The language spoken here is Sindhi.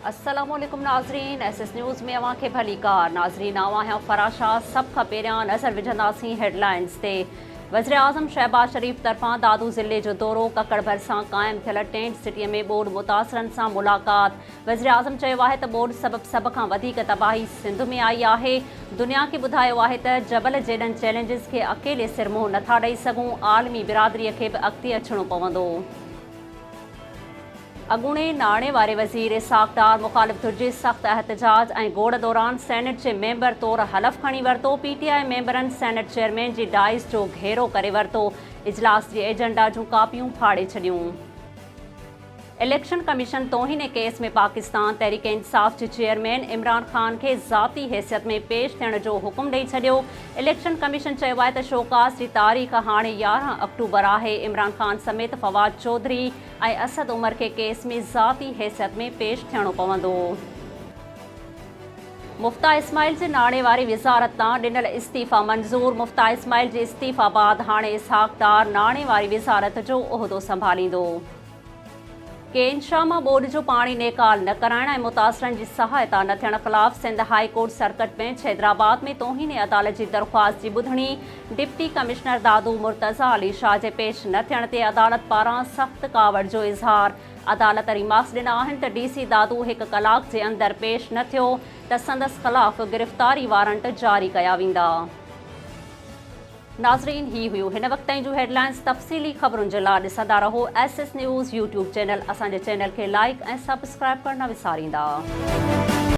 السلام عليڪم ناظرين ايس ايس نيوز ۾ اوهان کي ڀليڪار ناظرين آئون آهيان فرح شاهه سڀ کان پهريان نظر وجهنداسين هيڊلائنز تي وزيراعظم شهباز شريف طرفان دادو ضلعي جو دورو ڪڪڙ ڀرسان قائم ٿيل ٽينٽ سٽي ۾ ٻوڏ متاثرن سان ملاقات وزيراعظم چيو آهي ته ٻوڏ سبب سڀ کان وڌيڪ تباهي سنڌ ۾ آئي آهي دنيا کي ٻڌايو آهي ته جبل جيڏن چئلينجز کي اڪيلي سر منهن نٿا ڏئي سگهون عالمي برادري کي به اڳتي اچڻو پوندو اڳوڻي ناڻي واري وزير اسحاق ڊار مخالف ڌر جي سخت احتجاج ۽ گوڙ دوران سينيٽ جي ميمبر طور حلف کڻي ورتو پي ٽي آء ميمبرن سينيٽ چيئرمين جي ڊائز جو گهيرو ڪري ورتو اجلاس جي ايجنڊا جون ڪاپيون ڦاڙي ڇڏيون اليڪشن ڪميشن توهين ڪيس ۾ پاڪستان تحريڪ انصاف جي چيئرمين عمران خان کي ذاتي حيثيت ۾ پيش ٿيڻ جو حڪم ڏئي ڇڏيو اليڪشن ڪميشن چيو آهي ته شوڪاز جي تاريخ هاڻي يارهن آڪٽوبر آهي، عمران خان سميت فواد چوڌري ۽ اسد عمر کي ڪيس ۾ ذاتي حيثيت ۾ پيش ٿيڻو پوندو. مفتاح اسماعيل جي ناڻي واري وزارت تان ڏنل استعيفا منظور، مفتاح اسماعيل جي استعيفا بعد هاڻي اسحاق ڊار ناڻي واري وزارت جو عهدو سنڀاليندو. ڪين شاهه مان ٻوڏ جو پاڻي نيڪال نه ڪرائڻ ۽ متاثرن جي سهائتا نه ٿيڻ خلاف Sindh high court circuit bench Hyderabad ۾ توهين عدالت جي درخواست جي ٻڌڻي ڊپٽي ڪمشنر دادو مرتضيٰ علي شاهه جي پيش نه ٿيڻ تي عدالت پاران سخت ڪاوڙ جو اظهار عدالت ريمارڪس ڏنا آهن ته ڊي سي دادو هڪ ڪلاڪ جي اندر پيش نه ٿيو ته سندس خلاف گرفتاري وارنٽ جاري ڪيا ويندا. ناظرين هي هيون هن وقت تائين جون هيڊلائنز تفصيلي خبرن جي لا ڏسندا رهو S S news YouTube channel اسان جي چينل کي لائيڪ ۽ سبسڪرائيب ڪرڻ نه وساريندا.